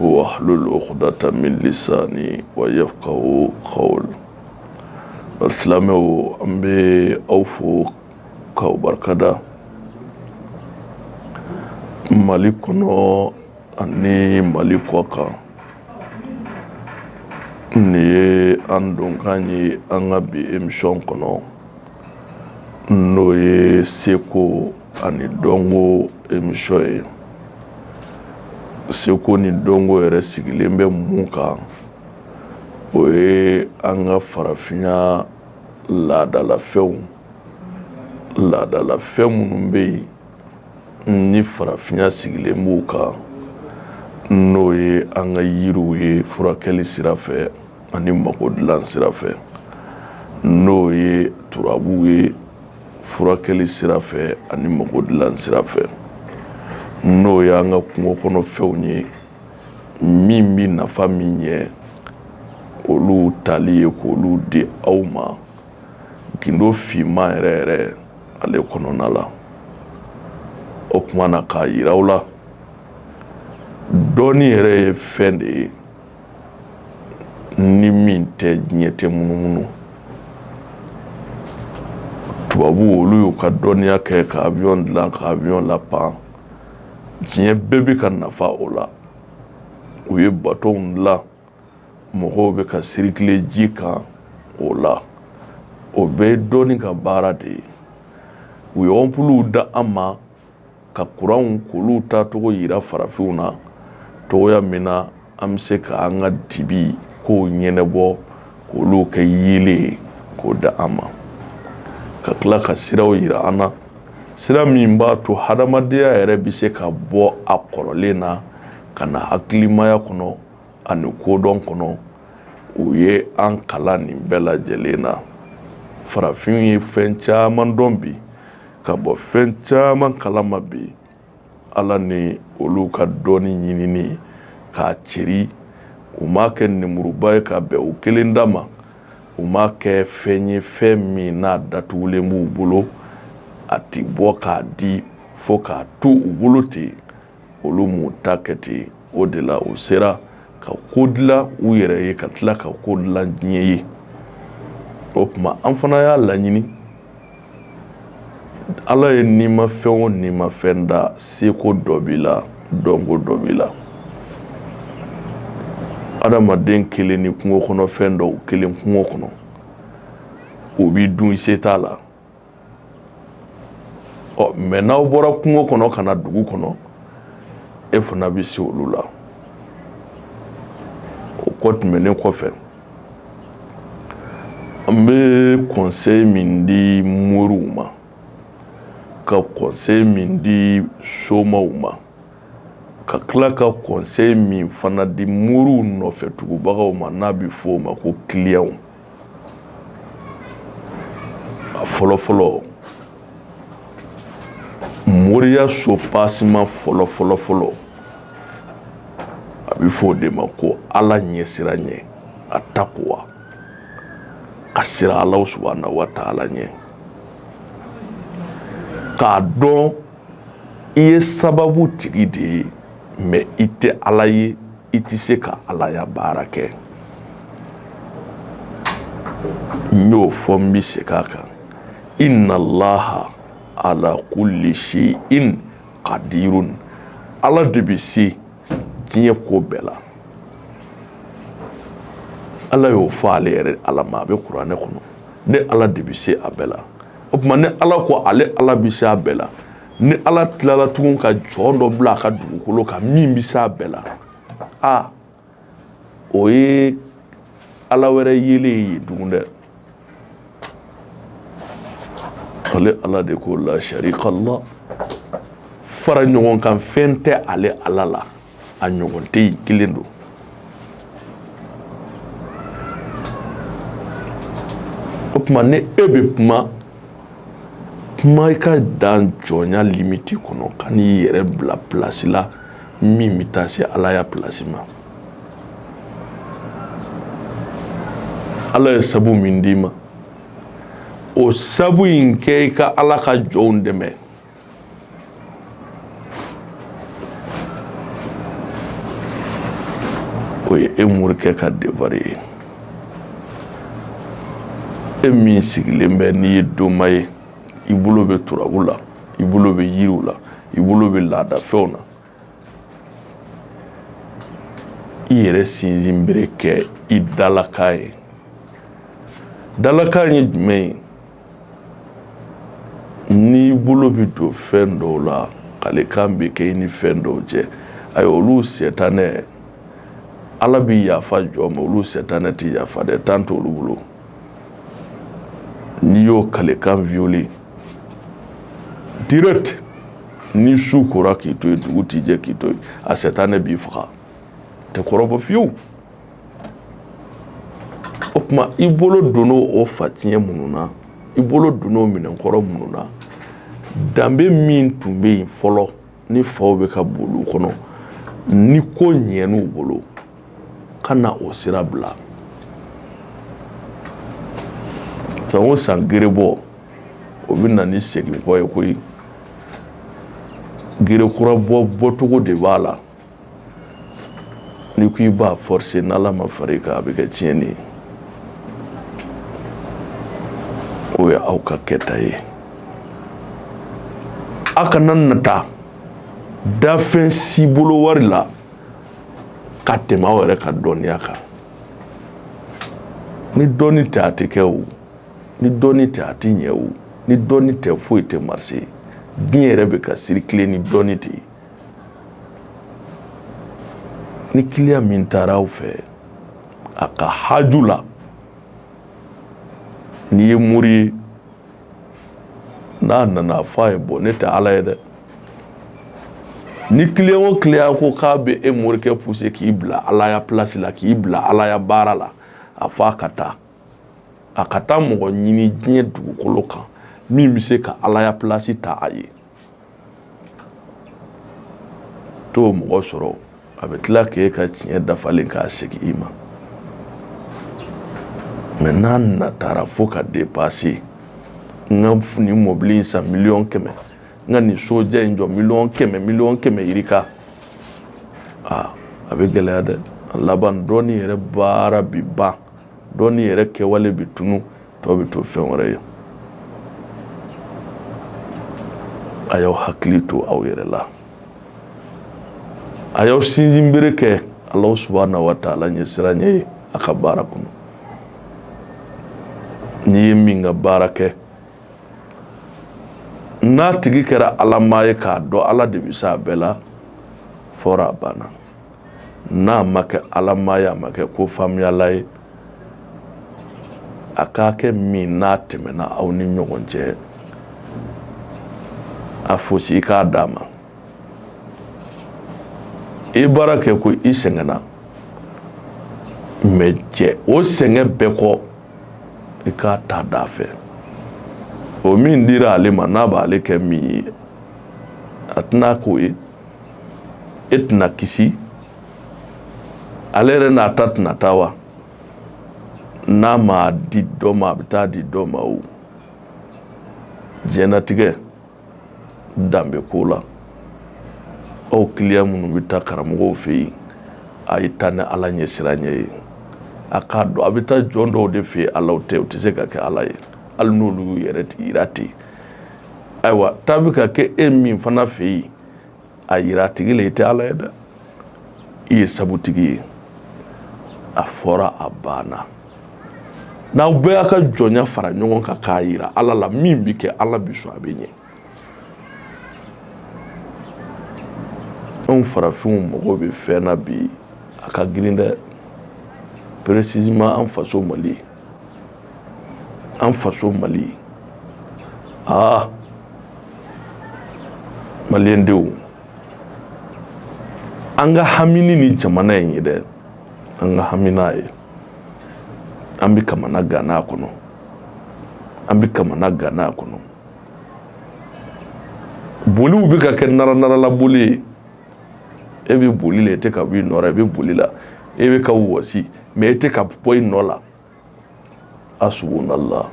wahlul uqdatan min lisani wa yafkahu kawli silamɛ o an bɛ aw fo k'aw barikada mali kɔnɔ ani mali kɔ kan nin ye an donkan ye an ka bi émission kɔnɔ n'o ye seko ani dɔnko émission ye seko ni dɔnko yɛrɛ sigilen bɛ mun kan o ye an ka farafinya laadalafɛnw laadalafɛn minnu bɛ yen ni farafinya sigilen b'u kan n'o ye an ka yiriw ye furakɛli sira fɛ ani mako dilan sira fɛ n'o ye turabu ye furakɛli sira fɛ ani mako dilan sira fɛ n'o ye an ka kungo kɔnɔ fɛnw ye min bɛ nafa min ɲɛ olu tali ye k'olu di aw ma gindo finman yɛrɛ yɛrɛ ale kɔnɔna la o tuma na k'a jira aw la dɔnni yɛrɛ ye fɛn de ye ni min tɛ diɲɛ tɛ munumunu tubabu olu y'u ka dɔnniya kɛ ka avion dilan ka avion lapan diɲɛ bɛɛ bɛ ka nafa o la u ye bateau dilan mɔgɔw bɛ ka circuler ji kan o la o bɛɛ ye dɔnni ka baara de ye u ye ampules d'an ma ka kuranw k'olu tacogo jira farafinw na cogoya min na an bɛ se k' an ka dibi kow ɲɛnabɔ k'olu kɛ yeelen ye k'o di an ma ka tila ka siraw jira an na sira min b'a to hadamadenya yɛrɛ bɛ se ka bɔ a kɔrɔlen na ka na hakilimaya kɔnɔ ani kodɔn kɔnɔ u ye an kalan nin bɛɛ lajɛlen na farafin ye fɛn caman dɔn bi ka bɔ fɛn caman kala ma bi ala ni olu ka dɔnni ɲinini k'a ceri u m'a kɛ ninmuruba ye ka bɛn u kelen dama u m'a kɛ fɛn ye fɛn min n'a datugulen b'u bolo a tɛ bɔ k'a di fo k'a to u bolo ten olu m'u ta kɛ ten o de la u sera ka ko dilan u yɛrɛ ye ka tila ka ko dilan diɲɛ ye o tuma an fana y'a laɲini Ala ye nimafɛn o nimafɛn da seko dɔ b'i la dɔnko dɔ b'i la adamaden kelen ni kungo kɔnɔ fɛn dɔw kelen kungo kɔnɔ o b'i dun i se t'a la ɔ mais n'aw bɔra kungo kɔnɔ ka na dugu kɔnɔ e fana bɛ se olu la o kɔ tɛmɛnen kɔfɛ an bɛ conseil min di moriw ma ka conseil min di somaw ma ka tila ka conseil min fana di moriw nɔfɛ tugubagaw ma n'a bɛ f'o ma ko clients a fɔlɔ fɔlɔ moriya soubassement fɔlɔ fɔlɔ fɔlɔ a bɛ fɔ o de ma ko ala ɲɛsiranɲɛ attaqwa ka siran ala subhanahu wa taala ɲɛ k'a dɔn i ye sababutigi de ye mais i tɛ ala ye i tɛ se ka alaya baara kɛ n y'o fɔ n bɛ segin a kan inna allaha ala kulli shay'in qadirun ala de bɛ se diɲɛ ko bɛɛ la ala y'o fɔ ale yɛrɛ ala ma a bɛ kuranɛ kɔnɔ ne ala de bɛ se a bɛɛ la o tuma ni ala ko ale ala bɛ se a bɛɛ la ni ala tilala tugun ka jɔn dɔ bila a ka dugukolo kan min bɛ se a bɛɛ la a o ye ala wɛrɛ yelen ye tugun dɛ ale ala de ko la sharika lah fara ɲɔgɔn kan fɛn tɛ ale ala la a ɲɔgɔn tɛ yen kelen don o tuma ni e bɛ kuma kuma i ka dan jɔnya limite kɔnɔ kan'i yɛrɛ bila place la min bɛ taa se alaya place ma ala ye sabu min d'i ma o sabu in kɛ i ka ala ka jɔnw dɛmɛ o ye e morikɛ ka devoir ye e min sigilen bɛ n'i ye doma ye i bolo bɛ turabu la i bolo bɛ yiriw la i bolo bɛ laadafɛnw na i yɛrɛ sinsinbere kɛ i dalakan ye dalakan ye jumɛn ye n'i bolo bɛ don fɛn dɔw la kalikan bɛ kɛ i ni fɛn dɔw cɛ ayi olu sɛtanɛ ala bɛ yafa jɔn ma olu sɛtanɛ tɛ yafa dɛ temps t'olu bolo n'i y'o kalikan violer direct ni su kora k'i to yen dugu tɛ jɛ k'i to yen a sɛtanɛ b'i faga tɛ kɔrɔbɔ fiyewu o tuma i bolo don o fatiɲɛ minnu na i bolo don o minɛnkɔrɔ minnu na danbe min tun bɛ yen fɔlɔ ni faw bɛ ka boli u kɔnɔ ni ko ɲɛn'u bolo kana o sira bila san o san gerebɔ o bɛ na ni seginkɔ ye koyi gere kura bɔ bɔcogo de b'a la Ni ko i b'a forcer ni Ala ma fara i kan a bɛ kɛ tiɲɛni ye. O ye aw ka kɛta ye. A kana nata dafɛn si bolo wari la ka tɛmɛ aw yɛrɛ ka dɔnniya kan. Ni dɔnni tɛ a tɛ kɛ o, ni dɔnni tɛ a tɛ ɲɛ o, ni dɔnni tɛ foyi tɛ marcher. Diɲɛ yɛrɛ bɛ ka circuler ni dɔnni de ye. ni client min taara aw fɛ a ka haju la n'i ye mori ye n'a nana a fɔ a ye bon ne tɛ ala ye dɛ ni client o client ko k'a bɛ e morikɛ pousser k'i bila alaya pilasi la k'i bila alaya baara la a fɔ a ka taa a ka taa mɔgɔ ɲini diɲɛ dugukolo kan min bɛ se ka alaya pilasi ta a ye T'o mɔgɔ sɔrɔ a bɛ tila k'e ka tiɲɛ dafalen k'a segin i ma mais n'a natara fo ka dépasser n ka nin mɔbili in san miliyɔn kɛmɛ n ka nin sojan in jɔ miliyɔn kɛmɛ yirika aa a bɛ gɛlɛya dɛ a laban dɔnni yɛrɛ baara bi ban dɔnni yɛrɛ kɛwale bɛ tunun tɔ bɛ to fɛn wɛrɛ ye a y'aw hakili to aw yɛrɛ la a y'aw sinsinbere kɛ alahu subahana wa taala ɲɛsiranɲɛ ye a ka baara kɔnɔ n'i ye min ka baara kɛ n'a tigi kɛra alamaa ye k'a dɔn ala de bɛ se a bɛɛ la fɔra a banna n'a ma kɛ alamaa ye a ma kɛ ko faamuyala ye a k'a kɛ min n'a tɛmɛna aw ni ɲɔgɔn cɛ a fɔsi i k'a d'a ma i baara kɛ ko i sɛgɛnna mais cɛ o sɛgɛn bɛɛ kɔ i k'a ta d'a fɛ o min dira ale ma n'a b'ale kɛ min ye a tɛna k'o ye e tɛna kisi ale yɛrɛ n'a ta tɛna taa wa n'a ma di dɔ ma a bɛ taa di dɔ ma o diɲɛlatigɛ danbe ko la aw client minnu bɛ taa karamɔgɔw fɛ yen a ye taa ni ala ɲɛsiranɲɛ ye a k'a dɔn a bɛ taa jɔn dɔw de fɛ ala tɛ u tɛ se ka kɛ ala ye hali n'olu y'u yɛrɛ jira ten ayiwa taa bɛ ka kɛ e min fana fɛ yen a jira a tigi la i tɛ ala ye dɛ i ye sabutigi ye a fɔra a banna n'aw bɛɛ y'a ka jɔnya fara ɲɔgɔn kan k'a jira ala la min bɛ kɛ ala bi sɔn a bɛ ɲɛ anw farafinw mago bɛ fɛn na bi a ka girin dɛ précisément an faso mali an faso mali aa maliyɛn denw an ka hami ni nin jamana in ye dɛ an ka hami n'a ye an bɛ kamanagan kɔnɔ an bɛ kamanagan kɔnɔ boliw bɛ ka kɛ naranarala boli ye e bɛ boli la e tɛ ka bɔ i nɔ la i bɛ boli la e bɛ ka wɔsi mais e tɛ ka bɔ i nɔ la asubunallah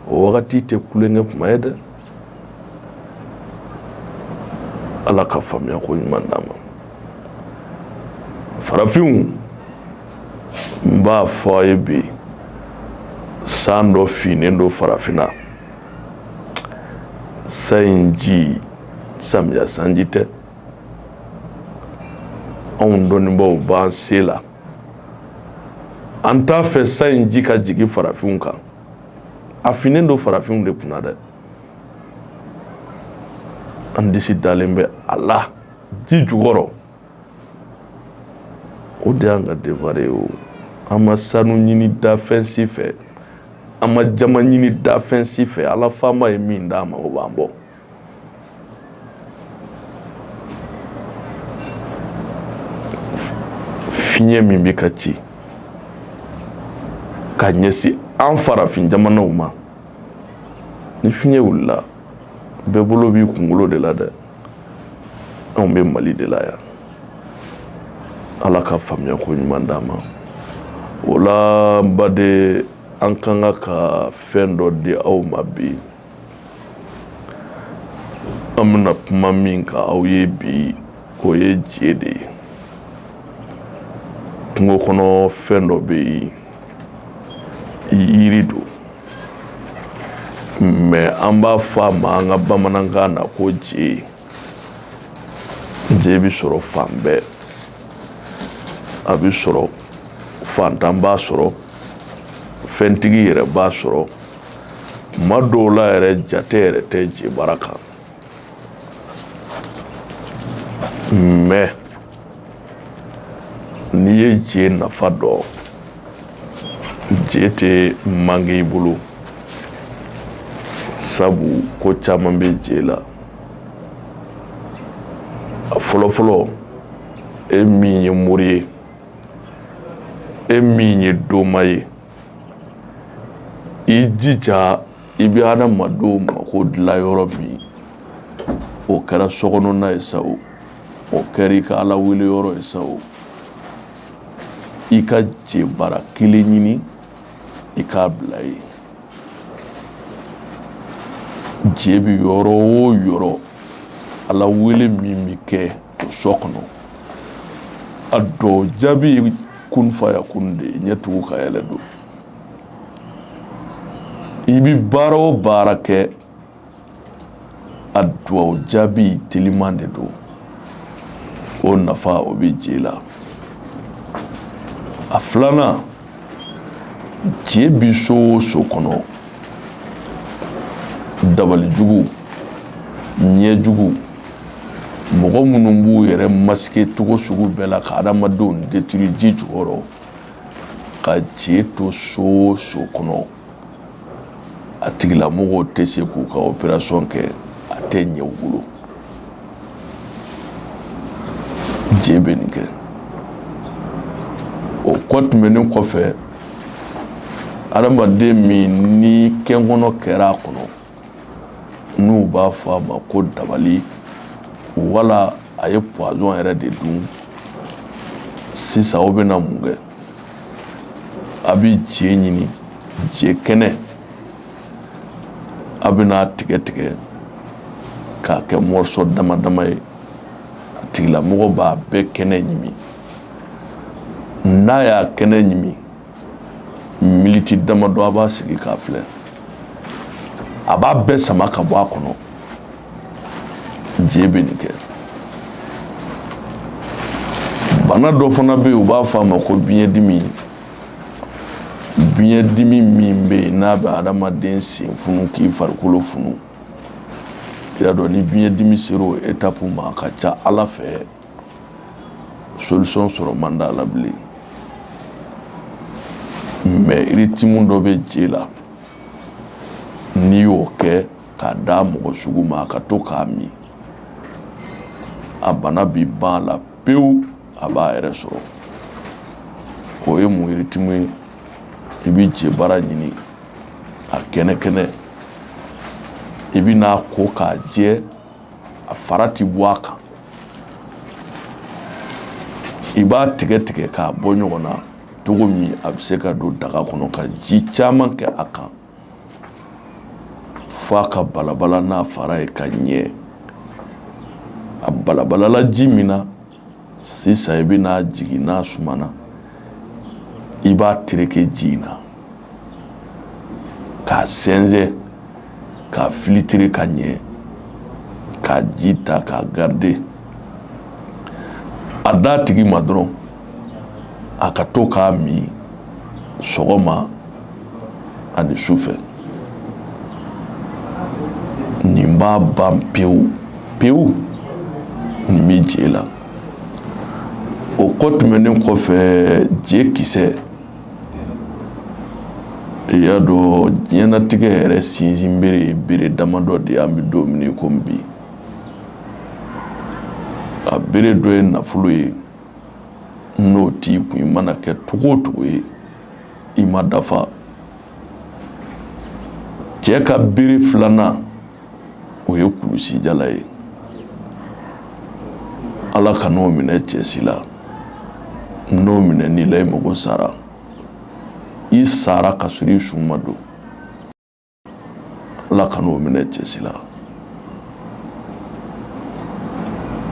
o wagati tɛ tulonkɛ kuma ye dɛ ala ka faamuya ko ɲuman d'an ma farafinw n b'a fɔ a ye bi san dɔ finnen don farafinna san in ji samiya sanji tɛ anw dɔnnibaaw b'an se la an t'a fɛ san in ji ka jigin farafinw kan a finnen don farafinw de kunna dɛ an disi dalen bɛ a la ji jukɔrɔ o de y'an ka devoir ye o an ma sanu ɲini danfɛn si fɛ an ma jaman ɲini danfɛn si fɛ ala faama ye min d'an ma o b'an bɔ fiɲɛ min bɛ ka ci ka ɲɛsin an farafin jamanaw ma ni fiɲɛ wulila bɛɛ bolo b'i kunkolo de la dɛ anw bɛ mali de la yan ala ka faamuya ko ɲuman d'an ma o la n baden an ka kan ka fɛn dɔ di aw ma bi an bɛna kuma min kan aw ye bi o ye je de ye kungo kɔnɔ fɛn dɔ bɛ yen yiri don mais an b'a fɔ a ma an ka bamanankan na ko je je bɛ sɔrɔ fan bɛɛ a bɛ sɔrɔ fantan b'a sɔrɔ fɛntigi yɛrɛ b'a sɔrɔ ma dɔw la yɛrɛ jate yɛrɛ tɛ je bara kan mais n'i ye je nafa dɔn je tɛ manquer i bolo sabu ko caman bɛ je la a fɔlɔfɔlɔ e min ye mori ye e min ye doma ye I jija i bɛ adamadenw mako dilan yɔrɔ min o kɛra so kɔnɔna ye sa o kɛra i ka ala wele yɔrɔ ye sa o i ka je bara kelen ɲini i k'a bila yen je bɛ yɔrɔ o yɔrɔ ala wele min bɛ kɛ so kɔnɔ a duwawu jaabi ye kun faya kun de ye ɲɛ tugu ka yɛlɛ don i bi baara o baara kɛ a duwawu jaabi teliman de don o nafa o bɛ je la a filanan je bi so o so kɔnɔ dabali jugu ɲɛ jugu mɔgɔ minnu b'u yɛrɛ masquer cogo sugu bɛɛ la ka adamadenw détruire ji jukɔrɔ ka je to so o so kɔnɔ a tigilamɔgɔw tɛ se k'u ka opération kɛ a tɛ ɲɛ u bolo je bɛ nin kɛ o kɔ tɛmɛnen kɔfɛ adamaden min ni kɛnkɔnɔ kɛra a kɔnɔ n'u b'a fɔ a ma ko dabali wala a ye poison yɛrɛ de dun sisan o bɛna mun kɛ a bɛ je ɲini je kɛnɛ a bɛn'a tigɛ tigɛ k'a kɛ morceau dama dama ye a tigilamɔgɔ b'a bɛɛ kɛnɛ ɲimi n'a y'a kɛnɛ ɲimi militi damadɔ a b'a sigi k'a filɛ a b'a bɛɛ sama ka bɔ a kɔnɔ je bɛ nin kɛ bana dɔ fana bɛ yen u b'a fɔ a ma ko biɲɛdimi biɲɛdimi min bɛ yen n'a bɛ adamaden sen funu k'i farikolo funu i y'a dɔn ni biɲɛdimi sera o etapu ma a ka ca ala fɛ solution sɔrɔ man d'a la bilen mɛ ritimu dɔ bɛ je la n'i y'o kɛ k'a d'a mɔgɔ sugu ma a ka to k'a min a bana bɛ ban a la pewu a b'a yɛrɛ sɔrɔ o ye mun ritimu ye i bɛ je bara ɲini a kɛnɛ kɛnɛ i bɛ n'a ko k'a jɛ a fara tɛ bɔ a kan i b'a tigɛ tigɛ k'a bɔ ɲɔgɔn na cogo min a bɛ se ka don daga kɔnɔ ka ji caman kɛ a kan Fo a ka balabala n'a fara ye ka ɲɛ a balabalala ji min na sisan i bɛ n'a jigin n'a sumana i b'a tereke ji in na k'a sɛnsɛn k'a filitire ka ɲɛ k'a ji ta k'a garide a d'a tigi ma dɔrɔn a ka to k'a min sɔgɔma ani su fɛ nin b'a ban pewu pewu nin bɛ je la o kɔ tɛmɛnen kɔfɛ je kisɛ i y'a dɔn diɲɛnatigɛ yɛrɛ sinsinbere ye bere damadɔ de ye an bɛ don min komi bi a bere dɔ ye nafolo ye n'o t'i kun i mana kɛ cogo o cogo ye i ma dafa cɛ ka bere filanan o ye kulusijala ye Ala kan'o minɛ cɛ si la n'o minɛn'i la i mago sara i sara ka sɔrɔ i su ma don ala kan'o minɛ cɛsi la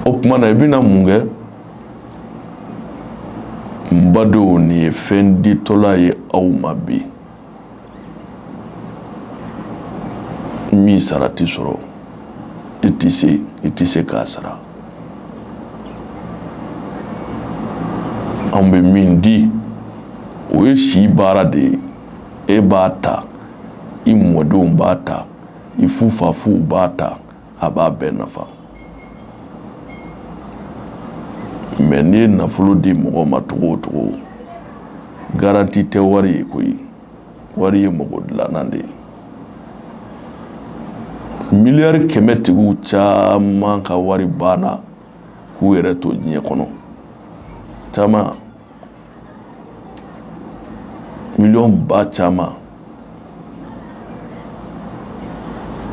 o tuma na i bɛna mun kɛ n badenw nin ye fɛn ditɔla ye aw ma bi min sara tɛ sɔrɔ i tɛ se k'a sara an bɛ min di o ye si baara de ye e b'a ta i mɔdenw b'a ta i fufafuw b'a ta a b'a bɛɛ nafa mɛ n'i ye nafolo di mɔgɔ ma cogo o cogo garanti tɛ wari ye koyi wari ye mɔgɔ dilanna de ye miliyari kɛmɛ tigiw caman ka wari banna k'u yɛrɛ to diɲɛ kɔnɔ caman miliyɔn ba caman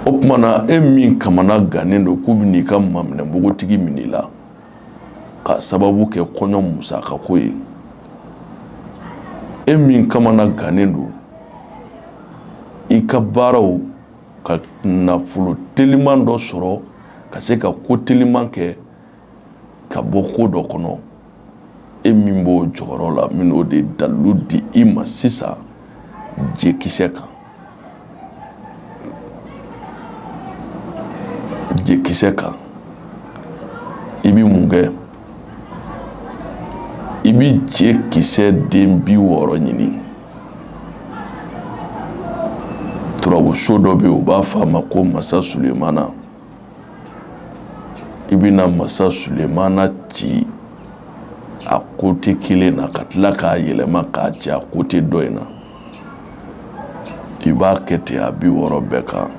o tuma na e min kamana gannen don k'u bɛn'i ka maminɛ npogotigi minɛ i la k'a sababu kɛ kɔɲɔ musaka ko ye e min kamana gannen don i ka baaraw ka nafolo teliman dɔ sɔrɔ ka se ka ko teliman kɛ ka bɔ ko dɔ kɔnɔ e min b'o jɔyɔrɔ la n bɛn'o de dalilu di i ma sisan jekisɛ kan jekisɛ kan i bɛ mun kɛ i bɛ jekisɛ den bi wɔɔrɔ ɲini turabuso dɔ bɛ yen u b'a fɔ a ma ko masa sulemana i bɛna masa sulemana ci a kote kelen na ka tila k'a yɛlɛma k'a ci a kote dɔ in na i b'a kɛ ten a bi wɔɔrɔ bɛɛ kan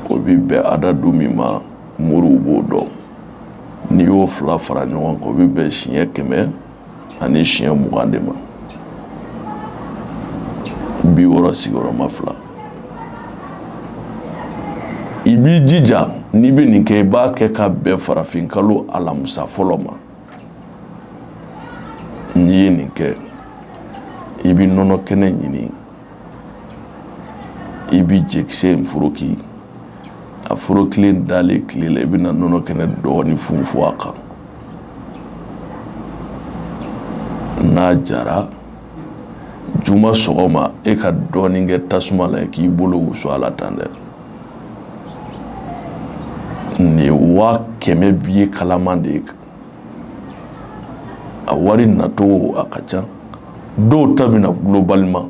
o bi bɛn adadu min ma moriw b'o dɔn n'i y'o fila fara ɲɔgɔn kan o bi bɛn siɲɛ kɛmɛ ani siɲɛ mugan de ma bi wɔɔrɔ sigiyɔrɔma fila i b'i jija n'i bɛ nin kɛ i b'a kɛ ka bɛn farafin kalo alamusa fɔlɔ ma n'i ye nin kɛ i bɛ nɔnɔ kɛnɛ ɲini i bɛ jekisɛ in foroki a forokilen dalen tile la i bɛna nɔnɔ kɛnɛ dɔɔnin funfun a kan n'a jara juma sɔgɔma e ka dɔɔnin kɛ tasuma la k'i bolo wusu a la tan dɛ nin ye waa kɛmɛ biye kalaman de ye a wari nacogo a ka ca dɔw ta bɛ na globalement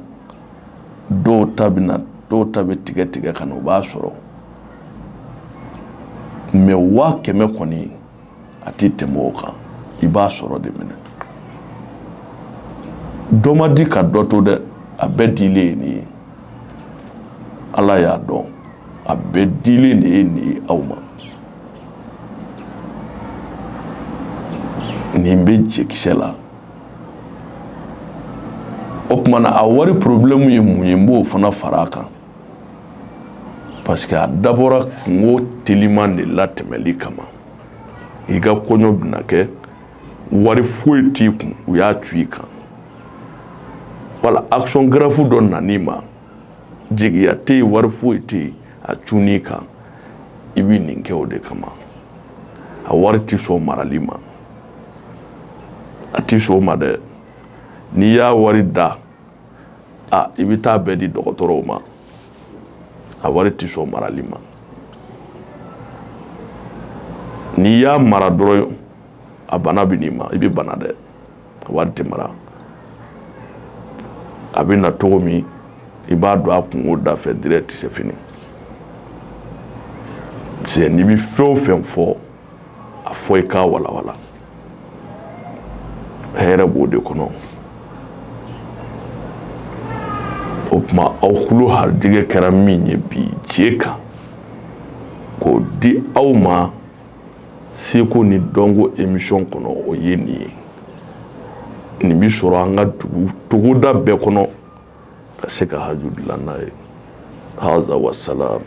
dɔw ta bɛ tigɛ tigɛ ka na o b'a sɔrɔ mɛ waa kɛmɛ kɔni a tɛ tɛmɛ o kan i b'a sɔrɔ de minɛ dɔ ma di ka dɔ to dɛ a bɛɛ dilen ye nin ye ala y'a dɔn a bɛɛ dilen de ye nin ye aw ma nin bɛ jekisɛ la o tuma na a wari problème ye mun ye n b'o fana fara a kan parce que a dabɔra kunko teliman de latɛmɛli kama i ka kɔɲɔ bɛna kɛ wari foyi t'i kun u y'a cun i kan wala action grave dɔ nan'i ma jigiya tɛ yen wari foyi tɛ yen a cun i kan i bɛ nin kɛ o de kama a wari tɛ sɔn marali ma a tɛ sɔn o ma dɛ n'i y'a wari da a i bɛ taa bɛɛ di dɔgɔtɔrɔw ma a wari tɛ sɔn marali ma n'i y'a mara dɔrɔn a bana bɛ n'i ma i bɛ bana dɛ a wari tɛ mara a bɛ na cogo min i b'a don a kunko da fɛ direct c'est fini c'est n'i bɛ fɛn o fɛn fɔ a fɔ i k'a walawala hɛrɛ b'o de kɔnɔ o tuma aw tulo harijɛgɛ kɛra min ye bi je kan k'o di aw ma seko ni dɔnko émission kɔnɔ o ye nin ye nin bɛ sɔrɔ an ka togoda bɛɛ kɔnɔ ka se ka haju dilan n'a ye haza wasalam